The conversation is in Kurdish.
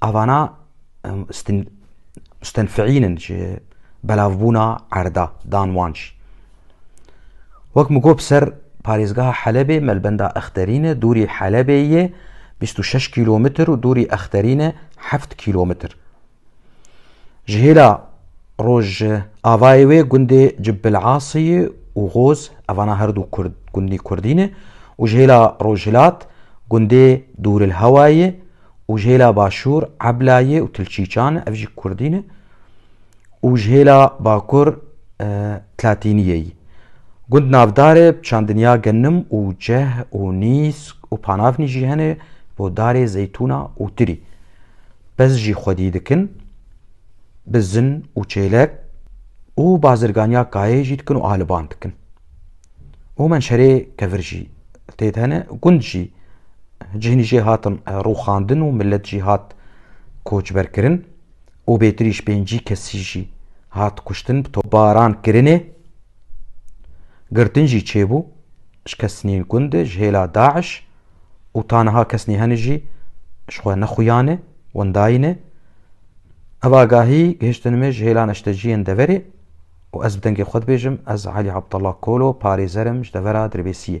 Avana stenfîînin ji belavbûna erda dan wan jî. Wek min got ser parêzgeha Helebê melbenda Exterîne dûrî Helebê yê bîst û şeş kîlometr û dûrî Exterîne heft kîlometr. Ji hêla rojavayê wê gundê Cibbil'asiyê û Goz evana herdû gundî kurdî ne û ji hêla rojhilat gundê Dûrilhewayê û ji hêla başûr Eblayê û Tilçîçan e, ev jî kurdî ne û ji hêla bakur Tlatîniyê yî. Gund navdarê bi çandinya genim û ceh û nîsk û panavnî jî hene bo darê zeytûna û tirî. Pez jî xwedî dikin bi zin û çêlek û bazirganiya kayeyê jî dikin û aliban dikin. Û men şerê kevir jî têd hene gund jî cihnî jê hatin rûxandin û millet jî hat koçberkirin û bêtirîş pêncî kesî jî hat kuştin bi tobaran kirinê girtin jî çêbû ji kesnîn gundi ji hêla da'iş û ta niha kesnî hene jî ji xwe nexuyane wendayîne Ev agahî gihiştin me ji hêla neşteciyên deverê û ez bi dengê xwe dibêjim, ez Elî Abdullah Kolo, parêzer im ji devera Dirbêsiyê.